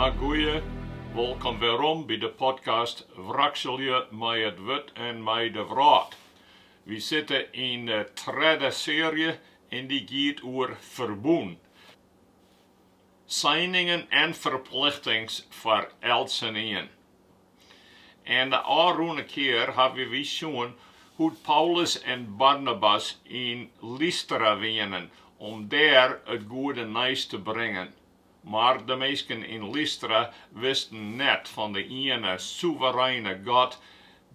Ah goeie, wolkom werom by de podcast Wrakselje mei it wurd en mei de wrâld. Wy sitte yn de tredde searje en dy giet oer ferbûn, seiningen en ferplichtings foar eltsenien. En de ôfrûne kear hawwe wy sjoen hoe't Paulus en Barnabas yn Lystra wienen om dêr it goede nijs te bringen. Mar de minsken yn Lystra wisten net fan de iene sûvereine God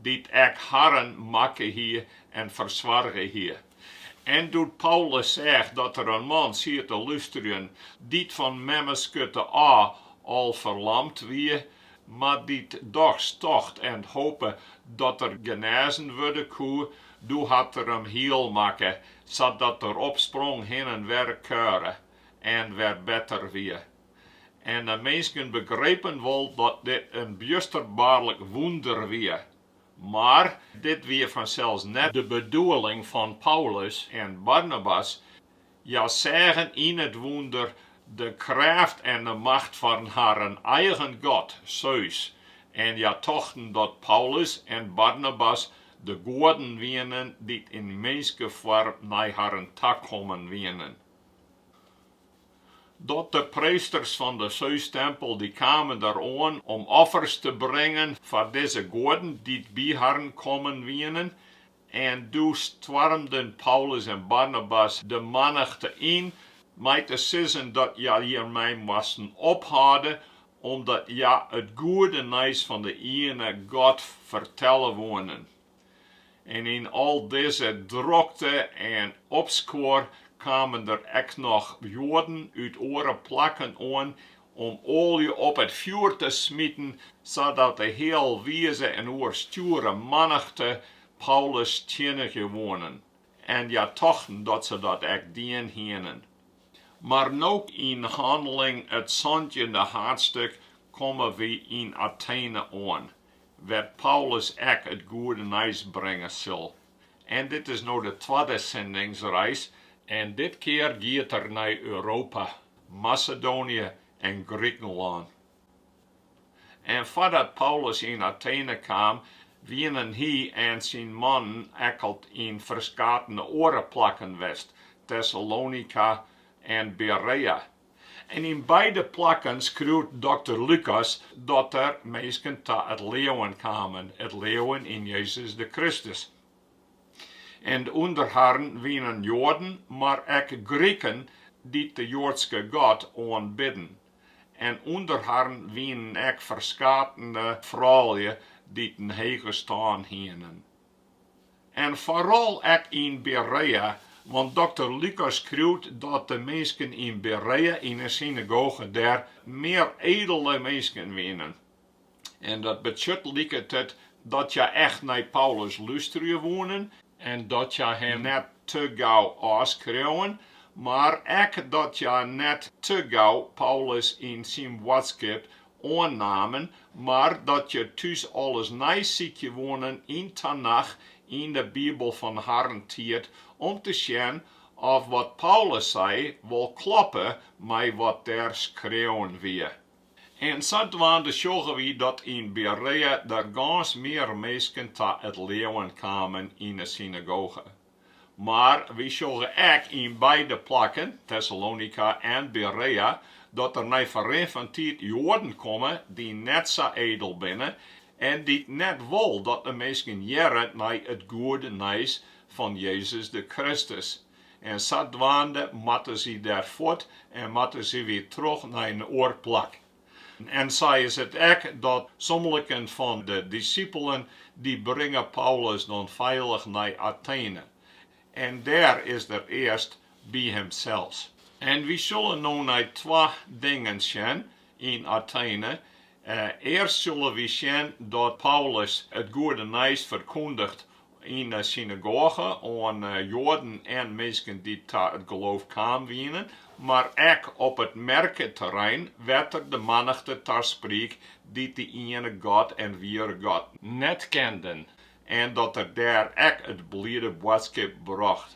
dy't ek harren makke hie en fersoarge hie. En doe't Paulus seach dat der in man siet te lústerjen dy't fan memmeskurte ôf al ferlamd wie, Mar dy't dochs tocht en hope dat er genêzen wurde koe, doe hat er him hiel makke, sadat er opsprong, hin en wer kuiere en wer better wie. En de minsken begrepen wol dat dit in bjusterbaarlik wûnder wie. Mar dit wie fansels net de bedoeling fan Paulus en Barnabas. Hja seagen yn it wûnder de krêft en de macht fan harren eigen god, Seus, en hja tochten dat Paulus en Barnabas de goaden wienen dy't yn minskefoarm nei harren ta kommen wienen. Dat de preesters fan de Seustempel dy kamen der oan om offers te bringen foar dizze goaden dy't by harren kommen wienen, En doe stoarmden Paulus en Barnabas de mannichte yn, mei te sizzen dat hja hjirmei moasten ophâlde, omdat hja it goede nijs fan de iene God fertelle woenen. En yn al dizze drokte en opskuor kamen der ek noch Joaden út oare plakken oan om oalje op it fjoer te smiten, sadat de healwize en oerstjoere mannichte Paulus stiennigje woenen, en hja tochten dat se dat ek dien hienen. Mar no, yn Handelingen it santjinde haadstik, komme wy yn Atene oan, wêr't Paulus ek it goede nijs bringe sil. En dit is no de twadde sendingsreis en dit kear giet er nei Europa, Masedoanië en Grikenlân. En foardat Paulus yn Atene kaam, wienen hy en syn mannen ek al yn ferskatene oare plakken west, Tessalonika en Berea, En yn beide plakken skriuwt dokter Lukas dat der minsken ta it leauwen kamen, it leauwen yn Jezus de Kristus. En ûnder harren wienen Joaden, mar ek Griken dy't de Joadske God oanbidden. En ûnder harren wienen ek ferskatene froulju dy't in hege stân hienen. En foaral ek yn Berea, want dokter Lukas skriuwt dat de minsken yn Berea yn 'e synagoge dêr mear edele minsken wienen. En dat betsjut liket it dat hja echt nei Paulus lústerje woenen, en dat hja him net te gau ôfskreauwen, mar ek dat hja net te gau Paulus en syn boadskip oannamen, mar dat hja thús alles neisykje woenen yn Tanach yn de Bibel fan harren tiid om te sjen oft wat Paulus sei wol kloppe mei wat dêr skreaun wie. En sadwaande sjogge wy dat yn Berea der gâns mear minsken ta it leauwen kamen yn 'e synagoge. Mar wy sjogge ek yn beide plakken, Tessalonika en Berea, dat der nei ferrin fan tiid Joaden komme dy't net sa edel binne en dy't net wol dat de minsken hearre nei it goede nijs fan Jezus de Kristus. En sadwaande moatte sy dêr fuort en moatte sy wer troch nei in oar plak. En sa is it ek dat somliken fan de disippelen, dy bringe Paulus dan feilich nei Athene, en dêr is er earst by himsels. En wy sille no nei twa dingen sjen yn Athene, earst sille wy sjen dat Paulus it goede nijs ferkûndigt Yn 'e synagoge oan Joaden en minsken dy't ta it geloof kaam wienen, mar ek op it merketerrein wêr't er de mannichte ta spriek dy't de iene God en wiere God net kenden en dat er dêr ek it bliede boadskip brocht.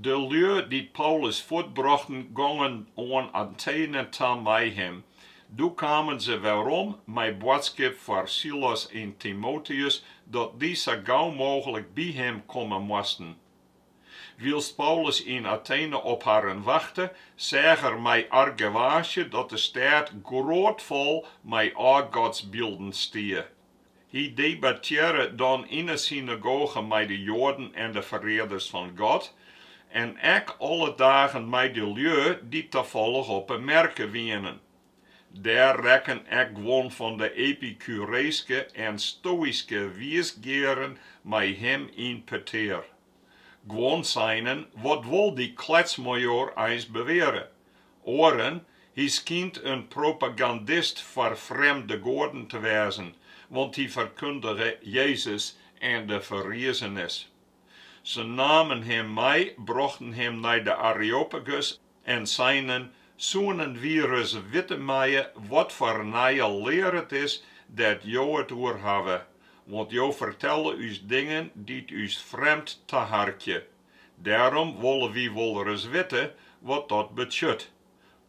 De lju dy't Paulus fuortbrochten, gongen oan Atene ta mei him. Doe kamen se werom mei boadskip foar Silas en Timoteus, dat dy sa gau mooglik by him komme moasten. Wylst Paulus yn Atene op harren wachte, seach er mei argewaasje dat de stêd grôtfol mei ôfgodsbylden stie. Hy debattearre dan yn 'e synagoge mei de Joaden en de ferearders fan God, en ek alle dagen mei de lju dy't tafallich op 'e merke wienen. Dêr rekken ek guon fan de epikureeske en stoïske wiisgearen mei him yn petear. Guon seinen, Wat wol dy kletsmajoar eins beweare? Oaren, Hy skynt in propagandist foar frjemde goaden te wêzen, want hy ferkundige Jezus en de ferrizenis. Se namen him mei, brochten him nei de Areopagus en seinen, Soenen wy ris witte meie wat foar nije lear it is dêr't jo it oer hawwe, want jo fertelle ús dingen dy't ús frjemd taharkje. Dêrom wolle wy wolris witte wat dat betsjut.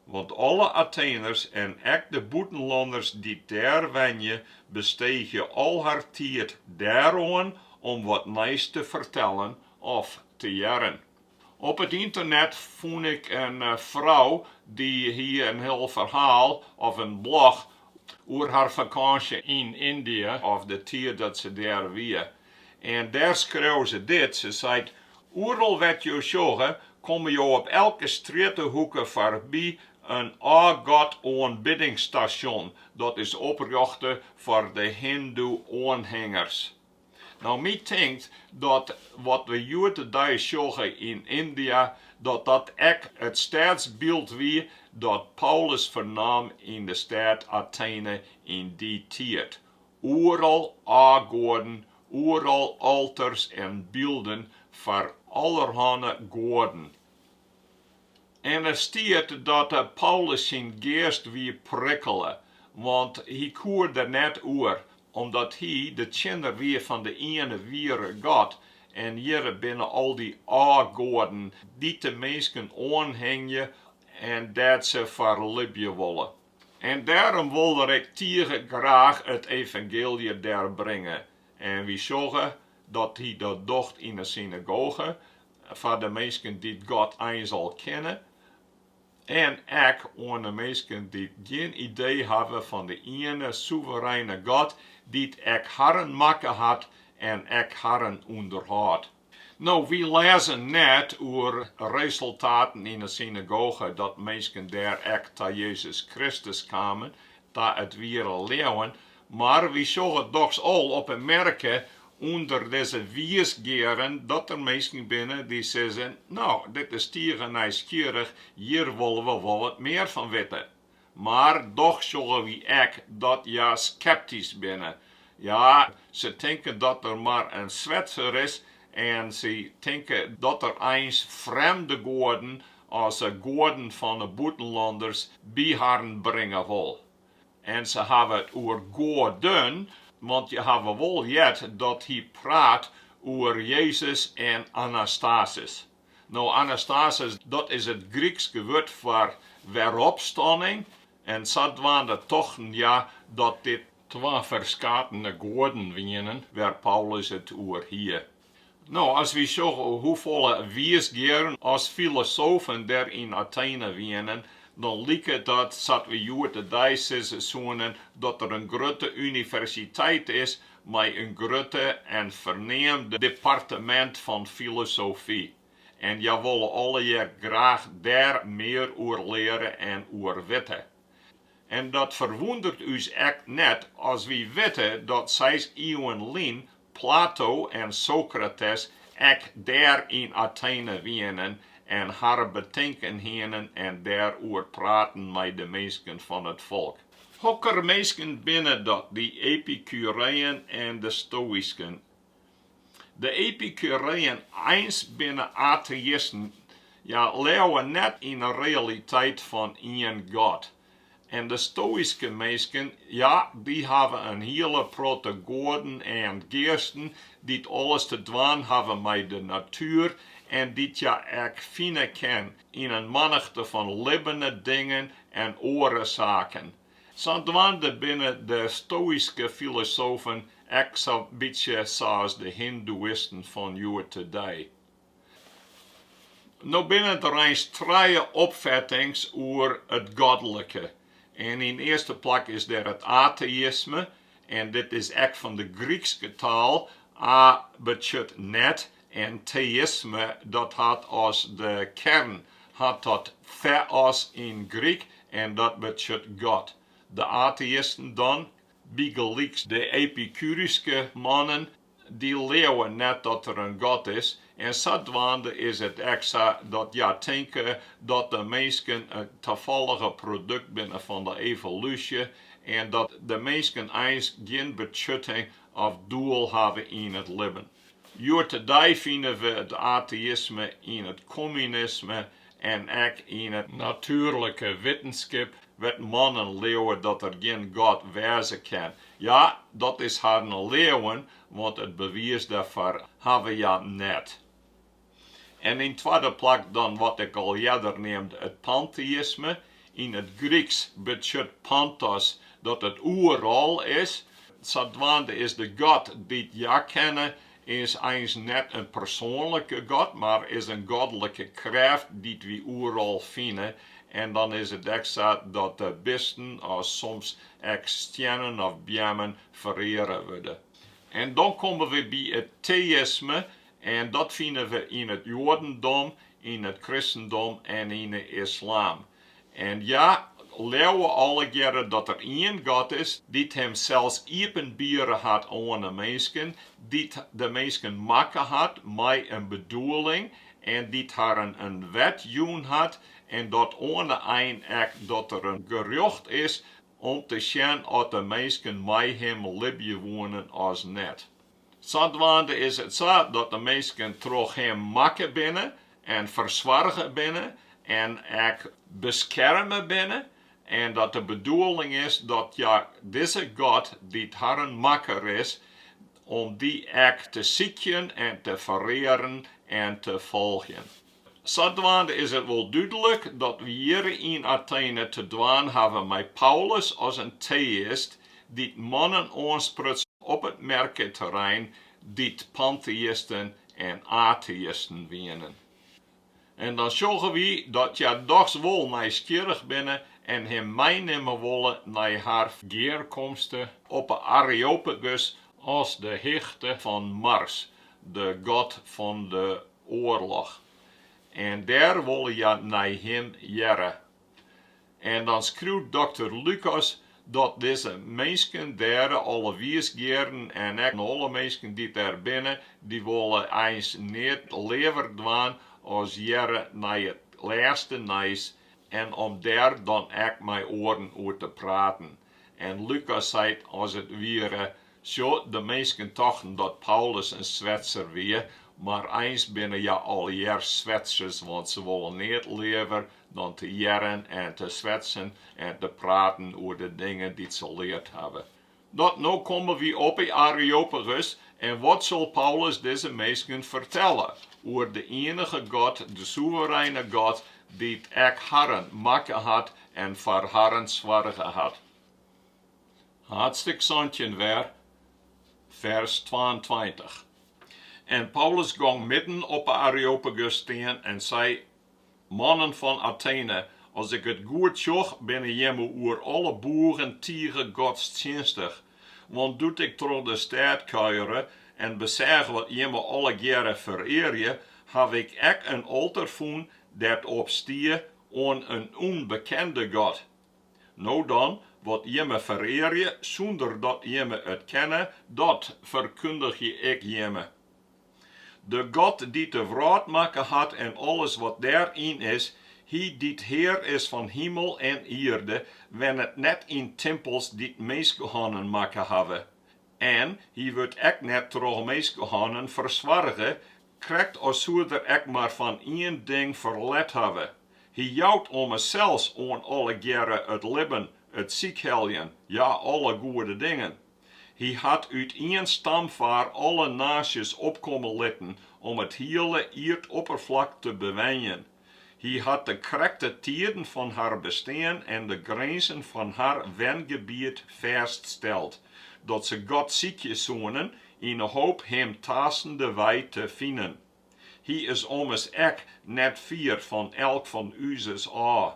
Want alle Atheners en ek de bûtenlanners dy't dêr wenje besteegje al har tiid dêroan om wat nijs te fertellen of te hearren. Op it ynternet fûn ik in frou dy hie in hiel ferhaal of in blog oer har fakânsje yn Yndia of de tiid dat se dêr wie. En dêr skreau se dit, se seit, Oeral wêr't jo sjogge, komme jo op elke strjittehoeke foarby in ôfgodoanbiddingsstasjon, dat is oprjochte foar de hindoe-oanhingers. No, my tinkt dat wat we hjoed-de-dei sjogge yn Yndia, dat dat ek it stêdsbyld wie dat Paulus fernaam yn de stêd Atene yn dy tiid, Oeral ôfgoaden, oeral alters en bylden foar allerhanne goaden. En der stiet dat Paulus syn geast wie prikkele, want hy koe der net oer, omdat hy de tsjinner wie fan de iene wiere God. En hjirre binne al dy ôfgoaden, dy't de minsken oanhingje en dêr't se foar libje wolle. En dêrom wol er ek tige graach it evangeelje dêr bringe. En wy sjogge dat hy dat docht yn 'e synagoge, foar de minsken dy't God eins al kenne, en ek oan 'e minsken dy't gjin idee hawwe fan de iene sûvereine God, dy't ek harren makke hat en ek harren ûnderhâldt. No, wy lêze net oer resultaten yn 'e synagoge dat minsken dêr ek ta Jezus Kristus kamen, ta it wiere leauwen, mar wy sjogge dochs al op 'e merke ûnder dizze wiisgearen dat der minsken binne dy't sizze, No, dit is tige nijsgjirrich, hjir wolle we wol wat mear fan witte. Mar dochs sjogge wy ek dat hja skeptysk binne. Ja, se tinke dat er mar in Swetser is en se tinke dat er eins frjemde goaden as de goaden fan 'e bûtenlanners by harren bringe wol. En se hawwe it oer goaden, want hja hawwe wol heard dat hy praat oer Jezus en Anastasis. No, anastasis, dat is it Grykske wurd foar weropstanning, en sadwaande tochten hja dat dit twa ferskate goaden wienen wêr't Paulus it oer hie. No, as wy sjogge hoefolle wiisgearen as filosofen der yn Atene wienen, dan liket dat sa't wy hjoed-de-dei sizze soenen dat der in grutte universiteit is mei in grutte en ferneamde departemint fan filosofy, en hja wolle allegear graach dêr mear oer leare en oer witte. En dat ferwûndert ús ek net as wy witte dat seis iuwen lyn Plato en Sokrates ek dêr yn Atene wienen en harren betinken hienen en dêroer praten mei de minsken fan it folk. Hokker minsken binne dat, dy Epikureeën en de Stoïsken? De Epikureeën eins binne ateïsten, hja leauwe net yn 'e realiteit fan ien God. En de Stoïske minsken, ja, dy hawwe in hiele protte goaden en geasten dy't alles te dwaan hawwe mei de natuer en dy't hja ek fine kin yn in mannichte fan libbene dingen en oarsaken. Sadwaande binne de stoïske filosofen ek sa'n bytsje sa's de hindoeïsten fan hjoed-de-dei. No binne der eins trije opfettings oer it godlike. En yn earste plak is der it ateïsme, en dit is ek fan de Grykske taal, a betsjut net, En teïsme dat hat as de kern hat dat theos yn Gryk en dat betsjut God. De ateïsten dan, bygelyks de epikuryske mannen, dy leauwe net dat der in God is en sadwaande is it ek sa dat hja tinke dat de minsken in tafallige produkt binne fan de evolúsje en dat de minsken eins gjin betsjutting of doel hawwe yn it libben. Hjoed-de-dei fine we it ateïsme yn it kommunisme en ek yn 'e natuerlike wittenskip wêr't mannen leauwe dat der gjin God wêze kin. Ja, dat is harren leauwen, want it bewiis dêrfoar hawwe hja net. En yn twadde plak dan wat ik al earder neamde it panteïsme. Yn it Gryksk betsjut pantos dat it oeral is. Sadwaande is de god dy't hja kenne is eins net in persoanlike god, mar is in godlike krêft dy't wy oeral fine. En dan is it ek sa dat de bisten as soms ek stiennen of beammen fereare wurde. En dan komme we by it teïsme, En dat fine we yn it joadendom, yn it kristendom en yn 'e islam. En hja leauwe allegearre dat der ien God is, dy't himsels iepenbiere hat oan 'e minsken, dy't de minsken makke hat mei in bedoeling en dy't harren in wet jûn hat, en dat oan 'e ein ek dat der in gerjocht is om te sjen oft de minsken mei him libje woenen as net. Sadwaande is it sa dat de minsken troch him makke binne en fersoarge binne en ek beskerme binne en dat de bedoeling is dat hja dizze God, dy't harren makker is, om dy ek te sykjen en te ferearen en te folgjen. Sadwaande is it wol dúdlik dat we hjir yn Atene te dwaan hawwe mei Paulus as in teïst dy't mannen oanspruts op it merketerrein dy't panteïsten en ateïsten wienen. En dan sjogge wy dat hja dochs wol nijsgjirrich binne en him meinimme wolle nei har gearkomste op 'e Areopagus as de hichte fan Mars, de god fan de oarloch, en dêr wolle hja nei him hearre. En dan skriuwt dokter Lukas dat dizze minsken dêr, alle wiisgearen en ek alle minsken dy't dêr binne, dy wolle eins neat leaver dwaan as hearre nei it lêste nijs en om dêr dan ek mei oaren oer te praten. En Lukas seit as it wiere, Sjoch, de minsken tochten dat Paulus in swetser wie, mar eins binne hja allegear swetsers, want se wolle neat leaver dan te hearren en te swetsen en te praten oer de dingen dy't se leard hawwe. Dat no komme wy op 'e Areopagus, en wat sil Paulus dizze minsken fertelle? Oer de ienige God, de soevereine God, dy't ek harren makke hat en foar harren soarge hat. Haadstik santjin wer, fers twaentweintich. En Paulus gong midden op 'e Areopagus stean en sei, Mannen fan Atene, as ik it goed sjoch, binne jimme oer alle boegen tige godstsjinstich. Want doe't ik troch de stêd kuiere en beseach wat jimme allegearre ferearje, haw ik ek in alter fûn dêr't op stie, Oan in ûnbekende god. No dan, wat jimme ferearje sûnder dat jimme it kenne, dat ferkundigje ik jimme. De God dy't de wrâld makke hat en alles wat dêryn is, Hy dy't Hear is fan himel en ierde, wennet net yn timpels dy't minskehânnen makke hawwe, en Hy wurdt ek net troch minskehânnen fersoarge, Krekt as soe er ek mar fan ien ding ferlet hawwe, hy jout ommers sels oan allegearre it libben, it sykheljen, ja, alle goede dingen. Hy hat út ien stamfaar alle naasjes opkomme litten om it hiele ierdopperflak te bewenjen. Hy hat de krekte tiden fan har bestean en de grinzen fan har wengebiet fêststeld, dat se God sykje soenen yn 'e hoop Him taastendewei te finen. Hy is ommers ek net fier fan elk fan úzes ôf.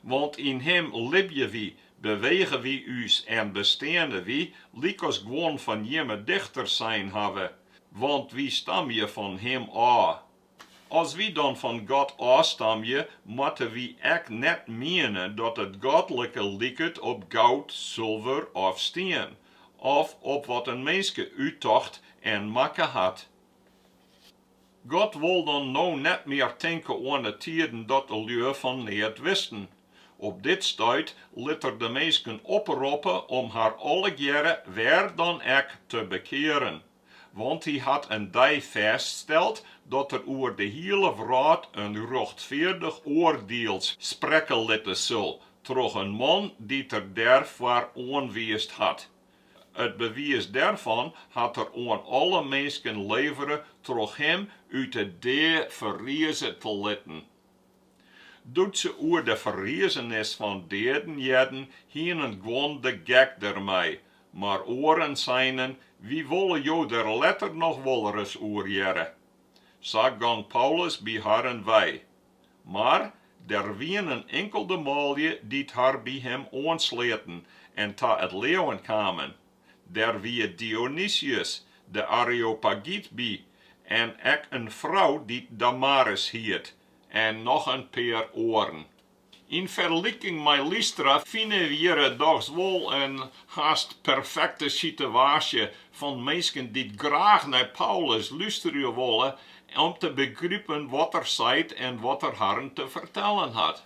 Want yn Him libje wy, bewege wy ús en besteane wy, lykas guon fan jimme dichters sein hawwe, want wy stamje fan Him ôf. As wy dan fan God ôfstamje, moatte wy ek net miene dat it godlike liket op goud, sulver of stien, of op wat in minske úttocht en makke hat. God wol dan no net mear tinke oan de tiden dat de lju fan neat wisten. Op dit stuit lit Er de minsken oproppe om har allegearre wêr dan ek te bekearen. Want hy hat in dei fêststeld dat er oer de hiele wrâld in rjochtfeardich oardiel sprekke litte sil troch in man dy't er dêrfoar oanwiisd hat. It bewiis dêrfan hat er oan alle minsken levere troch him út 'e dea ferrize te litten. Doe't se oer de ferrizenis fan deaden hearden, hienen guon de gek dermei, mar oaren seinen, Wy wolle jo der letter noch wolris oer hearre. Sa gong Paulus by harren wei. Mar der wienen inkelde manlju dy't har by him oansleaten en ta it leauwen kamen. Der wie Dionysius, de Areopagyt by, en ek in frou dy't Damaris hiet, en noch in pear oaren. Yn ferliking mei Lystra fine we hjir dochs wol in hast perfekte sitewaasje fan minsken dy't graach nei Paulus lústerje wolle om te begripen wat er seit en wat er harren te fertellen hat.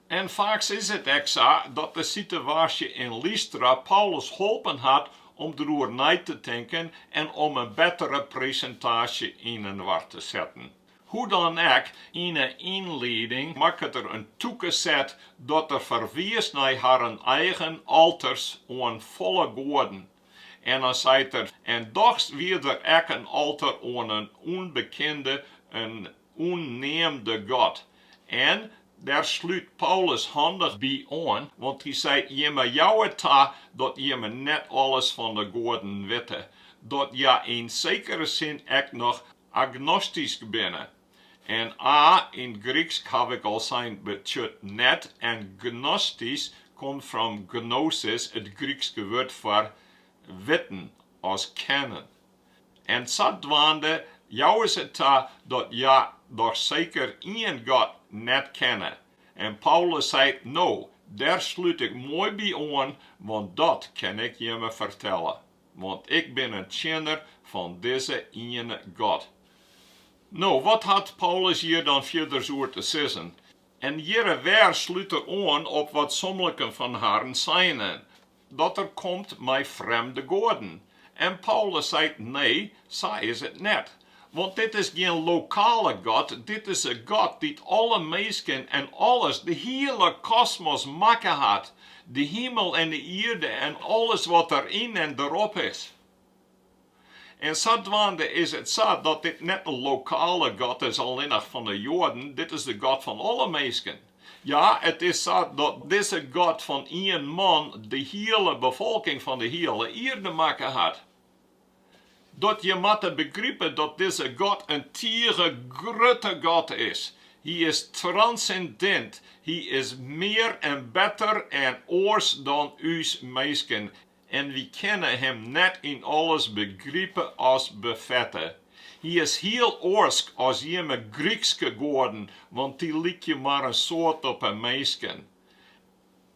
En faaks is it ek sa dat de sitewaasje yn Lystra Paulus holpen hat om deroer nei te tinken en om in bettere presintaasje yninoar te setten. Hoe dan ek, yn 'e ynlieding makket er in tûke set dat er ferwiist nei harren eigen alters oan folle goaden. En dan seit er, En dochs wie der ek in alter oan in ûnbekinde, in. ûnneamde God. En dêr slút Paulus handich by oan, want hy seit, Jimme jouwe ta dat jimme net alles fan de goaden witte, dat je yn sekere sin ek noch agnostysk binne. En a yn 't Gryksk haw ik al sein betsjut net, en gnostysk komt fan gnosis, it Grykske wurd foar witten, as kennen. En sadwaande jouwe se ta dat hja dochs seker ien God net kenne. En Paulus seit, No, dêr slút ik moai by oan, want dat kin ik jimme fertelle, want ik bin in tsjinner fan dizze iene God. No, wat hat Paulus hjir dan fierders oer te sizzen? En hjirre wer slút er oan op wat sommiken fan harren seinen. dat er komt mei frjemde goaden. En Paulus seit, Nee, sa is it net. Want dit is gjin lokale God, dit is 'e God dy't alle minsken en alles, de hiele kosmos makke hat, de himel en 'e ierde en alles wat deryn en derop is. En sadwaande is it sa dat dit net in lokale God is, allinnich fan de Joaden, dit is de God fan alle minsken. Ja, it is sa dat dizze God fan ien man de hiele befolking fan de hiele ierde makke hat. Dat je matte begripe dat dizze God in tige grutte God is. Hy is transindint, hy is mear en better en oars dan ús minsken. En wy kinne him net yn alles begripe as befette. Hy is hiel oarsk as jimme Grykske goaden, want dy lykje mar in soad op 'e minsken.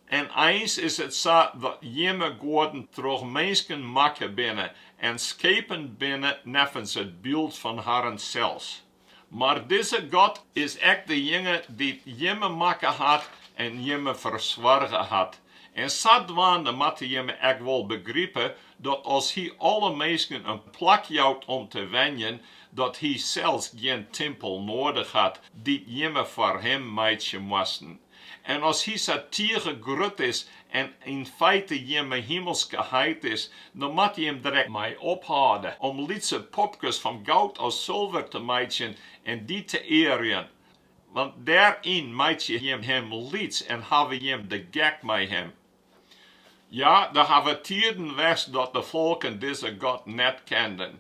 En eins is it sa dat jimme goaden troch minsken makke binne en skepen binne neffens it byld fan harren sels. Mar dizze God is ek dejinge dy't jimme makke hat en jimme fersoarge hat. En sadwaande moatte jimme ek wol begripe, dat as Hy alle minsken in plak jout om te wenjen, dat Hy sels gjin timpel noadich hat, dy't jimme foar Him meitsje moasten. En as hy sa tige grut is en yn feite jimme himelske heit is, dan moatte jim der ek mei ophâlde, om lytse popkes fan goud of sulver te meitsjen en dy te earjen, want dêryn meitsje jim him lyts en hawwe jim de gek mei him. Ja, der hawwe tieden west dat de folken dizze God net kenden,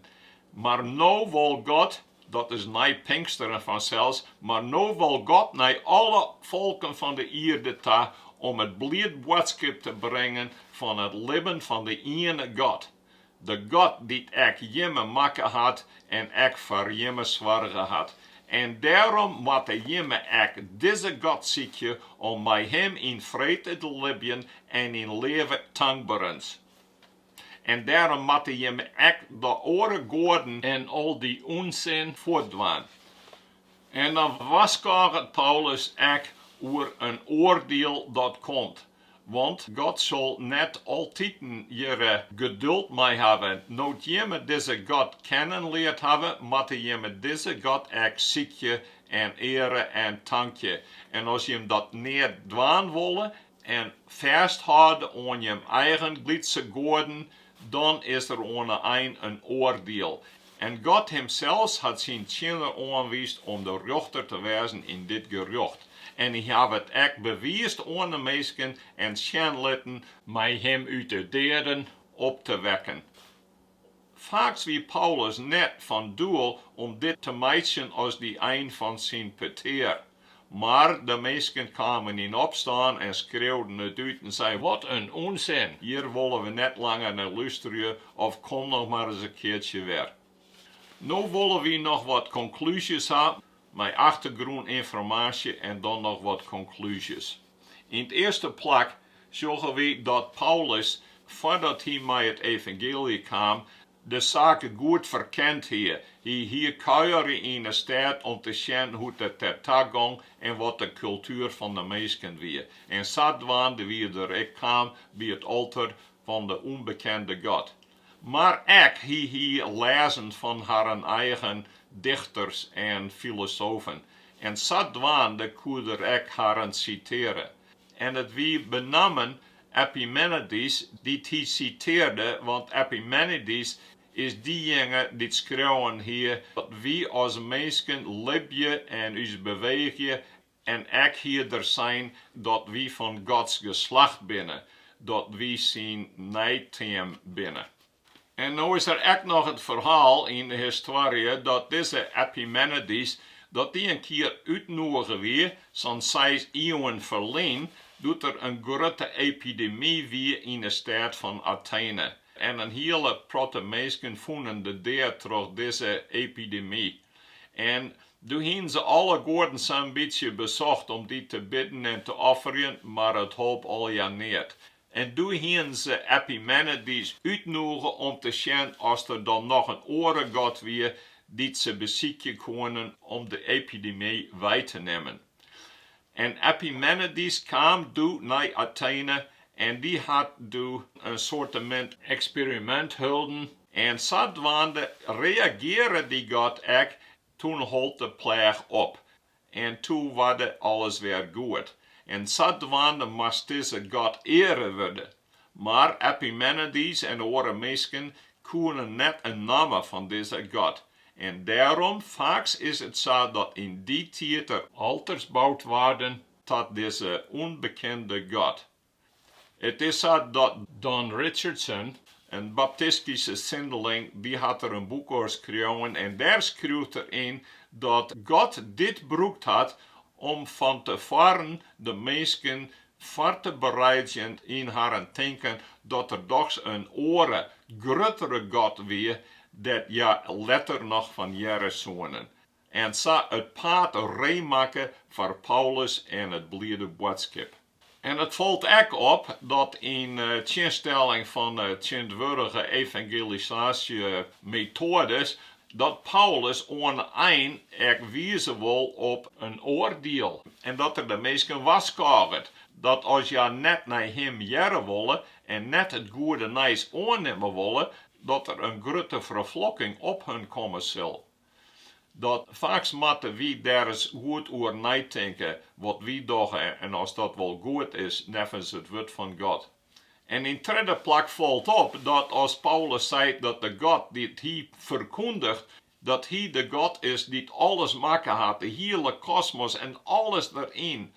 mar no wol God, dat is nei Pinksteren fansels, mar no wol God nei alle folken fan de ierde ta om it bliid boadskip te bringen fan it libben fan de iene God. De God dy't ek jimme makke hat en ek foar jimme soarge hat. En dêrom moatte jimme ek dizze God sykje om mei Him yn frede te libjen en yn leafde en tankberens. En dêrom moatte jimme ek de oare goaden en al dy ûnsin fuortdwaan. En dan warskôget Paulus ek oer in oardiel dat komt, Want God sil net altiten hjirre geduld mei hawwe. No't jimme dizze God kennen leard hawwe, moatte jimme dizze God ek sykje en eare en tankje. En as jim dat nea dwaan wolle en fêsthâlde oan jim eigen Grykske goaden, dan is der oan 'e ein in oardiel En God himsels hat syn tsjinner oanwiisd om de rjochter te wêzen yn dit gerjocht, en hy haw it ek bewiisd oan de minsken en sjen litten, mei him út de deaden op te wekken. Faaks wie Paulus net fan doel om dit te meitsjen as de ein fan syn petear. Mar de minsken kamen yn opstân en skreauwden it út en sei, Wat in ûnsin! Hjir wolle we net langer nei lústerje of kom noch mar ris in keartsje wer. No wolle wy noch wat konklúzjes ha mei achtergrûninformaasje en dan noch wat konklúzjes. Yn 't earste plak sjogge wy dat Paulus foardat hy mei it evangeelje kaam de saken goed ferkend hie. Hy hie kuiere yn 'e stêd om te sjen hoe't it der om en ta gong en wat de kultuer fan 'e minsken wie. En sadwaande wie er der ek kaam by it alter fan de ûnbekende god. Mar ek hie hy lêzen fan harren eigen dichters en filosofen en sadwaande koe er ek harren sitearje. En it wie benammen Epimenides dy't hy sitearde, want Epimenides is dejinge dy't skreaun hie dat wy as minsken libje en ús beweegje en ek hie er sein dat wy fan Gods geslacht binne, dat wy syn neiteam binne. En no is der ek noch it ferhaal yn de histoarje dat dizze Epimenides dat dy in kear útnûge wie, sa'n seis ieuwen ferlyn, doe't der in grutte epidemy wie yn de stêd fan Atene, en in hiele protte minsken fûnen de dea troch dizze epidemy. En doe hienen se alle goaden sa'n bytsje besocht om dy te bidden en te offerjen, mar it holp allegear neat. En doe hienen se Epimenides útnûge om te sjen oft der dan noch in oare god wie dy't se besykje koenen om de epidemy wei te nimmen. En Epimenides kaam doe nei Atene en dy hat doe in soartemint eksperimint holden en sadwaande reagearre dy god ek, toen hold de pleach op. En toe warde alles wer goed, en sadwaande moast dizze god eare wurde. Mar Epimenides en oare minsken koenen net in namme fan dizze god, en dêrom, faaks is it sa dat yn dy tiid der alters boud waarden ta dizze ûnbekende god. It is sa dat Don Richardson, in baptistyske sindeling, dy hat der in boek oer skreaun en dêr skriuwt er yn dat God dit brûkt hat om fan te foaren de minsken foar te bereidzjen yn harren tinken dat der dochs in oare, gruttere God wie, dêr't hja letter noch fan hearre soenen. en sa it paad ree makke foar Paulus en it bliede boadskip. En it falt ek op dat yn tsjinstelling fan tsjintwurdige evangelisaasjemetoades, dat Paulus oan de ein ek wize wol op in oardiel en dat er de minsken warskôget dat as hja net nei him hearre wolle en net it goede nijs oannimme wolle, dat der in grutte ferflokking op hun komme sil. Dat faaks moatte wy dêr ris goed oer neitinke wat wy dogge en oft dat wol goed is neffens it Wurd fan God. En yn tredde plak falt op dat as Paulus sei dat de God dy't hy ferkûndigt, dat Hy de God is dy't alles makke hat, de hiele kosmos en alles deryn,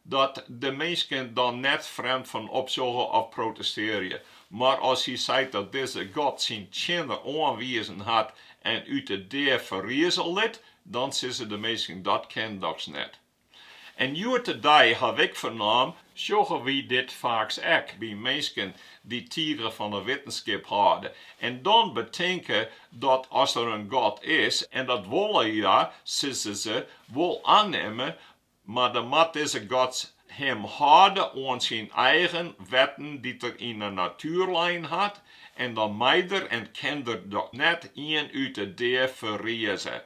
Dat de minsken dan net frjemd fan opsjogge of protestearje, mar as hy seit dat dizze God syn tsjinner oanwizen hat en út de dea ferrize litten, dan sizze de minsken, Dat kin dochs net. En hjoed-de-dei haw ik fernaam, sjogge wy dit faaks ek by minsken dy't tige fan de wittenskip hâlde en dan betinke dat as der in God is, en dat wolle hja, sizze se, wol annimme, Mar dan moat dizze God him hâlde oan syn eigen wetten dy't er yn 'e natuer lein hat, en dan mei der en kin der dochs net ien út 'e dea ferrize.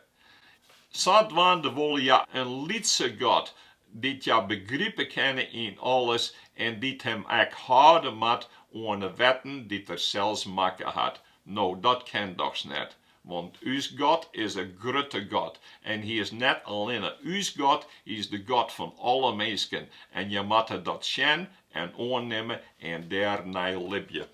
Sadwaande wolle hja in lytse god, dy't hja begripe kinne yn alles en dy't him ek hâlde moat oan 'e wetten dy't er sels makke hat. No, dat kin dochs net. Want ús God is in grutte God, en Hy is net allinne ús God, Hy is de God fan alle minsken, en je moatte dat sjen en oannimme en dêrnei libje.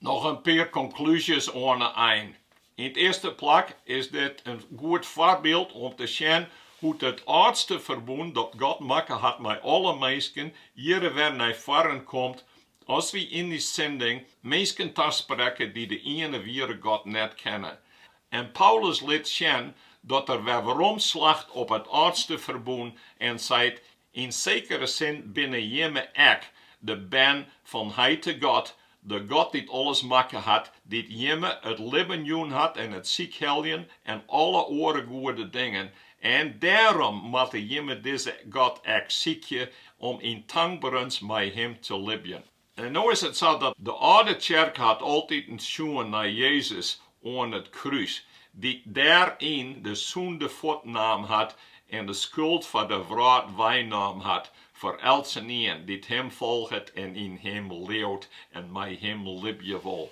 Noch in pear konklúzjes oan 'e ein. Yn 't earste plak is dit in goed foarbyld om te sjen hoe't it âldste ferbûn dat God makke hat mei alle minsken, hjir wer nei foaren komt As wy yn dy sending minsken tasprekke dy't de iene wiere God net kenne. En Paulus lit sjen dat er wer werom slacht op it âldste ferbûn en seit, Yn sekere sin binne jimme ek de bern fan Heit de God, de God dy't alles makke hat, dy't jimme it libben jûn hat en it sykheljen en alle oare goede dingen, En dêrom moatte jimme dizze God ek sykje, om yn tankberens mei Him te libjen. En no is it sa dat de âlde tsjerke hat altiten sjoen nei Jezus oan it krús, dy't dêryn de sûnde fuortnaam hat en de skuld fan de wrâld weinaam hat foar eltsenien dy't Him folget en yn Him leaut en mei Him libje wol.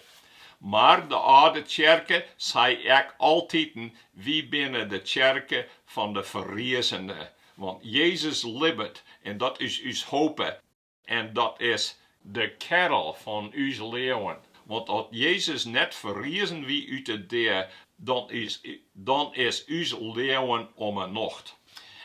Mar de âlde tsjerke sei ek altiten, Wy binne de tsjerke fan de ferriezene, want Jezus libbet en dat is ús hope. En dat is de kerl fan ús leauwen, want at Jezus net ferriezen wie út de dea, dan is ús leauwen om 'e nocht.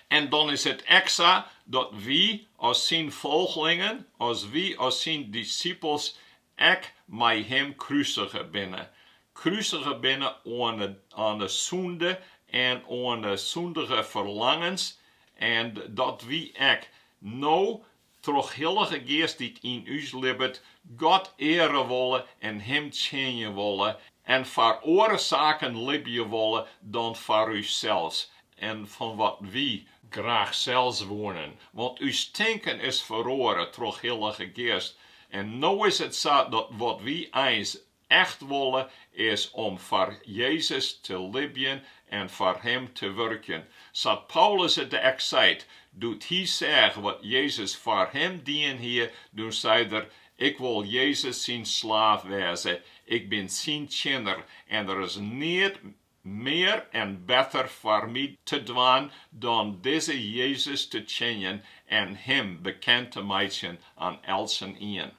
En dan is it ek sa dat wy as syn folglingen, as wy as syn dissipels Ek mei him krusige binne. Krusige binne oan 'e sûnde en oan 'e sûndige ferlangens, en dat wy ek no troch Hillige Geast dy't yn ús libbet, God eare wolle en Him tsjinje wolle en foar oare saken libje wolle dan foar ússels en foar wat wy Graach sels woenen, want ús tinken is feroare troch Hillige Geast en no is it sa dat wat wy eins echt wolle is om foar Jezus te libjen en foar Him te wurkjen. Sa't Paulus it ek seit, doe't hy seach wat Jezus foar him dien hie, doe sei er, Ik wol Jezus syn slaaf wêze, ik bin syn tsjinner en der is neat Mear en better foar my te dwaan dan dizze Jezus te tsjinjen en Him bekend te meitsjen oan eltsenien.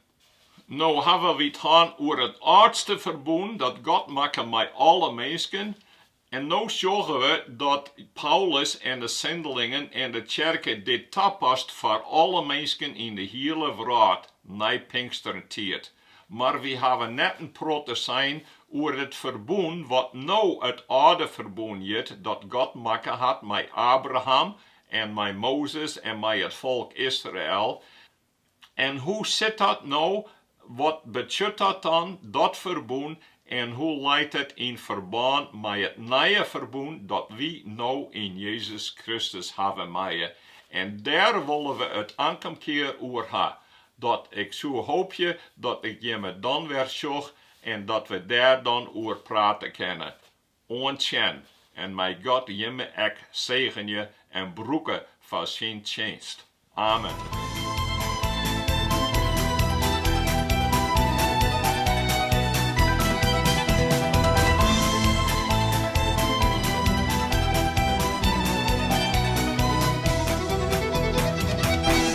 No hawwe wy it hân oer it âldste ferbûn dat God makke mei alle minsken, en no sjogge we dat Paulus en de sindelingen en de tsjerke dit tapasse foar alle minsken yn de hiele wrâld nei Pinkster ta. Mar wy hawwe net in protte sein oer it ferbûn wat no it âlde ferbûn hjit, dat God makke hat mei Abraham en mei Mozes en mei it folk Israel. En hoe sit dat no, wat betsjut dat dan, dat ferbûn, en hoe leit it yn ferbân mei it nije ferbûn dat wy no yn Jezus Kristus hawwe meie? En dêr wolle we it ankom kear oer ha, Dat ik soe hoopje dat ik jimme dan wer sjoch en dat we dêr dan oer prate kinne. Oant sjen en mei God jimme ek segenje en brûke foar syn tsjinst. Amen.